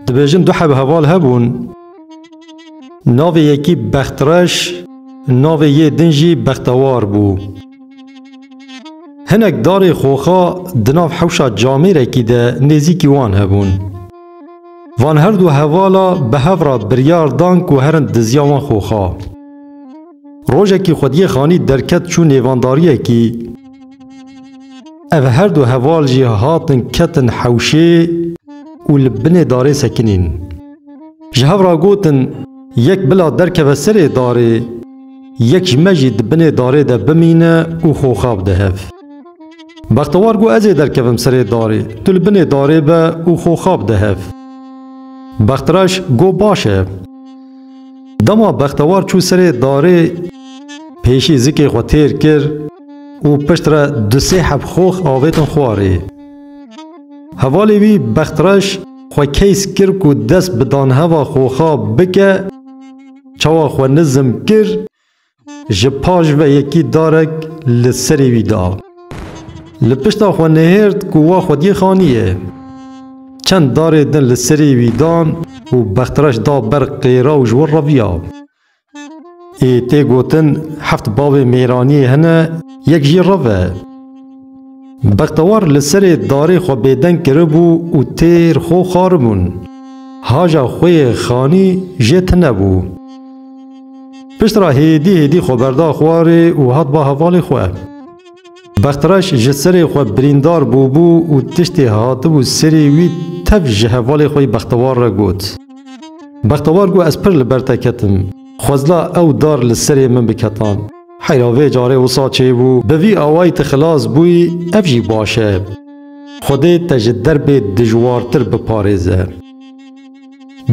Dibêjin du heb heval hebûn. Navê yekî Bextreş, navê yê din jî Bextewar bû. Hinek darê xoxa di nav hewşa camêrekî de nêzîkî wan hebûn. Van her du hevala bi hev re biryar dan ku herin dizya wan xoxa. Rojekî xwediyê xanî derket çû nêvandariyekî. Ev her du heval jî hatin ketin hewşê û li binê darê sekinîn. Ji hev re gotin yek bila derkeve serê darê, yek ji me jî di binê darê de bimîne û xwe xwe bide hev. Bextewar got ez ê derkevim serê darê, tu li binê darê be û xwe xwe bide hev. Bextreş got baş e. Dema bextewar çû serê darê pêşî zikê xwe têr kir û pişt re du sê heb xox avêtin xwarê. Hevalê wî Bextreş xwe keys kir ku dest bi danheva xoxa bike, çawa xwe nizm kir Ji paş ve yekî darek li serê wî da. Li pişta xwe nêhêrt ku wa xwediyê xaniyê. Çend darê din li serê wî dan û bextreş da ber qêra û ji wir re viya. Ê tê gotin heft bavê mêraniyê hene yek jî rev e. Bextewar li serê darê xwe bêdeng kiribû û têr xwe xaribûn. Haja xwe yê xanî jê tune bû. Pişt re hêdî hêdî xwe berda xwarê û hat ba hevalê xwe. Bextreş ji serê xwe birîndar bûbû û tiştê hatibû serê wî tev ji hevalê xwe yî Bextewar re got. Bextewar got ez pir li ber te ketim. Xwezla ew dar li serê min biketan. Heyra vê carê wisa çêbû bi vî awayî tu xilas bûyî ev jî baş e. Xwedê te ji derbê dijwartir biparêze.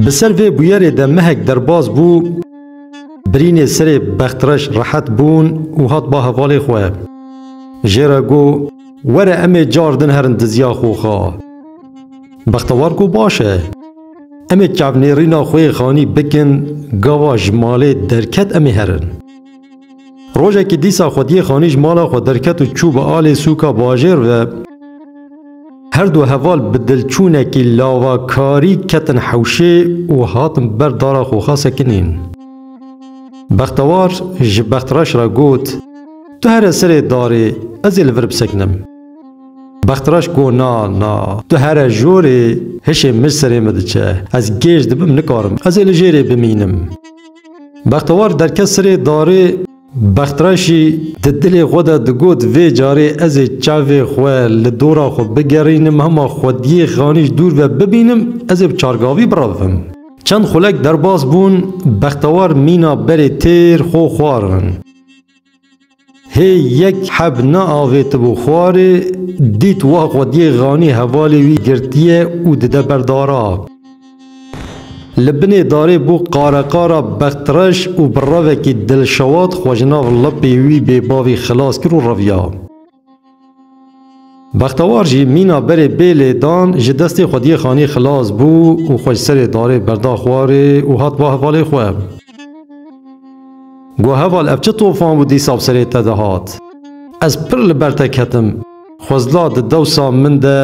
Bi ser vê bûyerê de mehek derbas bû, birînê serê Bextreş rehet bûn û hat ba hevalê xwe. Jê re got, Were em ê car din herin dizya Xoxa. Bextewar got, Baş e. Em ê çavnêrîna xwe yê xanî bikin, gava ji malê derket em ê herin. Rojekî dîsa xwediyê xanî ji mala xwe derket û çû bi alê sûka bajêr ve. Her du heval bi dilçûnekî lavakarî ketin hewşê û hatin ber dara xoxa sekinîn. Bextewar ji Bextreş re got, Tu here serê darê, ez ê li vir bisekinim. Bextreş got, Na, na, tu here jorê, hişê mij serê min diçe, ez gêj dibim nikarim, ez ê li jêrê bimînim. Bextewar derket serê darê Bextreşî di dilê xwe de digot vê carê ez ê çavê xwe li dora xwe bigerînim hema xwediyê xanîş dûr ve bibînim ez ê bi çargavî biravim. Çend xulek derbas bûn bextewar mîna berê têr xwe xwarin. Hê yek heb neavêtibû xwarê, dît wa xwediyê xanî hevalê wî girtiye û dide ber dara. Li binê darê bû qareqara bextreş û bi revekî dilşewat xwe ji nav lipê wî bê bavî xilas kir û reviya. Bextewar jî mîna berê bê lêdan ji destê xwediyê xanî xilas bû û xwe ji serê darê berda xwarê û hat ba hevalê xwe. Got heval ev çi tofan bû dîsa bi serê te de hat. Ez pir li ber te ketim. Xwezla di dewsa min de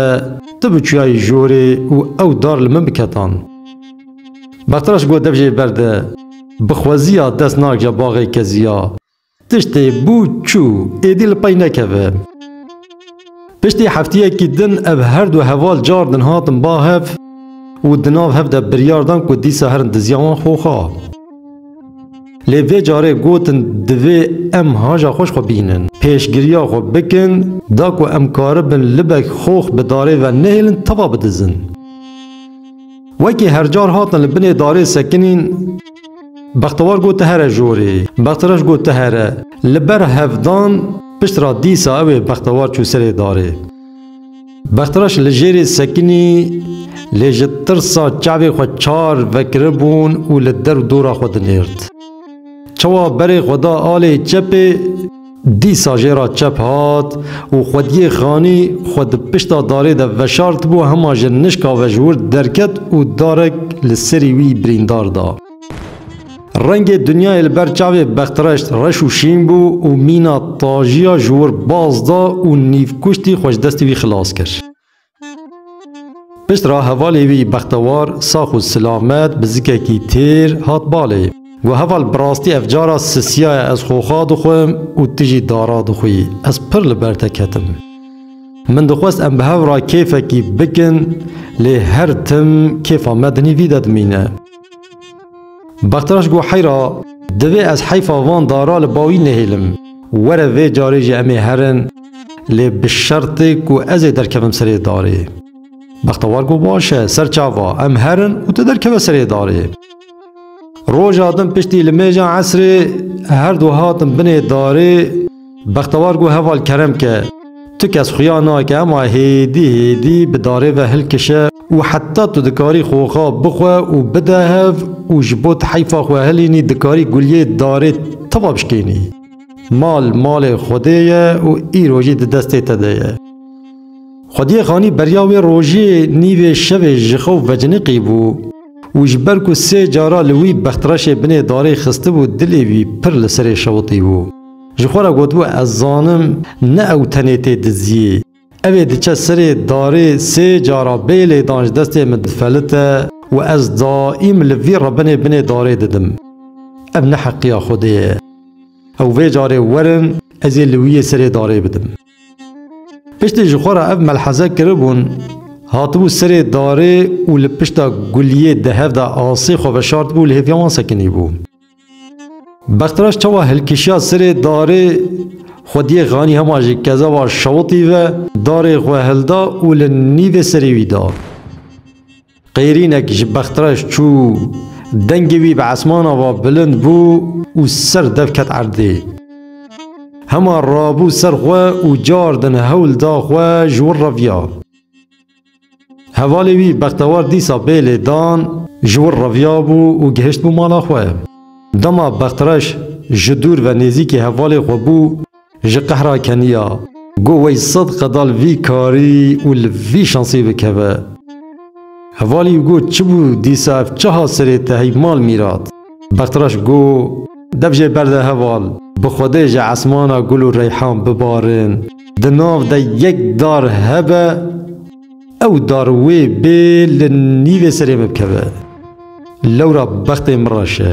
tu biçûyayî jorê û ew dar li min biketan. Bextewar jî got dev jê ber de. Bi xweziya dest nakije baxê keziya. Tiştê bû çû, êdî li pey nekeve. Piştî heftiyekî din ev her du heval car din hatin ba hev û di nav hev de biryar dan ku dîsa herin dizya wan xoxa. Lê vê carê gotin divê em haja xweş xwe bînin, pêşgiriya xwe bikin, da ku em karibin libek xox bi darê ve nehêlin teva bidizin. Wekî her car hatin li binê darê sekinîn, Bextewar got ti here jorê, Bextireş got ti here. Li ber hev dan, pişt ra dîsa ew ê Bextewar çû serê darê. Bextireş li jêrê sekinî lê ji tirsa çavê xwe çar vekiribûn û li der û dora xwe dinêrt. Çawa berê xwe da alê çepê. Dîsa jê re çep hat û xwediyê xanî xwe di pişta darê de veşartibû hema ji nişka ve ji wir derket û darek li serî wî birîndar da. Rengê dinyayê li ber çavê Bextireşt reş û şîn bû û mîna tajiya ji wir baz da û nîvkuştî xwe ji destê wî xilas kir. Pişt ra hevalê wî bextewar, sax û silamet bi zikekî têr hat balê. Got heval bi rastî ev cara sisiyaye ez xoxa dixwim û ti jî dara dixwî. Ez pir li ber te ketim. Min dixwest em bi hev ra kêfekî bikin lê her tim kêfa me dinî vî de dimîne. Baxtraş got heyra divê ez heyfa van dara li bawî nehêlim. Were vê carê jî em ê herin lê bi şertê ku ez ê derkevim serê darê. Bextewar got baş e ser çava em herin û tu derkeve serê darê. Roja din piştî li mêja esrê her du hatin binê darê. Bextewar got heval kerem ke tu kes xuya nake ema hêdî hêdî bi darê ve hilkişe û heta tu dikarî xoxa bixwe û bide hev û ji bo tu heyfa xwe hilînî dikarî guliyê darê tiva bişkênî. Mal malê Xwedê ye û îro jî di destê te de ye. Xwediyê Xanî beriya wê rojê nîvê şevê ji xew veciniqî bû û ji ber ku sê cara li wî bextreşê binê darê xistibû dilê wî pir li serê şewitîbû. Ji xwe re gotibû ez zanim ne ew tenê tê diziyê. Ew ê diçe serê darê sê cara bê lêdan ji destê min difelite û ez daîm li vîr re binê binê darê didim. Ev ne heqiya Xwedê ye. Ew vê carê werin ez ê li wî yê serê darê bidim. Piştî ji xwe re ev melheze kiribûn, hatibû serê darê û li pişta guliyê di hev de asê xwe veşartibû û li hêviya wan sekinîbû. Beqtiraş çawa hilkişiya serê darê xwediyê Xanî hema ji kezewa şewitî ve darê xwe hilda û li nîvê serê wî da. Qêrînek ji Beqtiraş çû, dengê wî bi esmana ve bilind bû û ser dev ket erdê. Hema rabû ser xwe û car din hewl da xwe ji wir re viya. Hevalê wî bextewar dîsa bê lêdan ji wir reviyabû û gihiştbû mala xwe. Dema bextreş ji dûr ve nêzîkî hevalê xwe bû, ji qehra keniya, got wey sed qeda li vî karî û li vî şansî bikeve. Hevalî got çi bû dîsa ev çaha serê te hey mal mîrat? Bertiraş go, Dev jê berde heval, bi Xwedê ji esmana gul û reyhan bibarin, di nav de yek dar hebe, ew dar wê bê li nîvê serê min bikeve. Lewra bextê min reş e.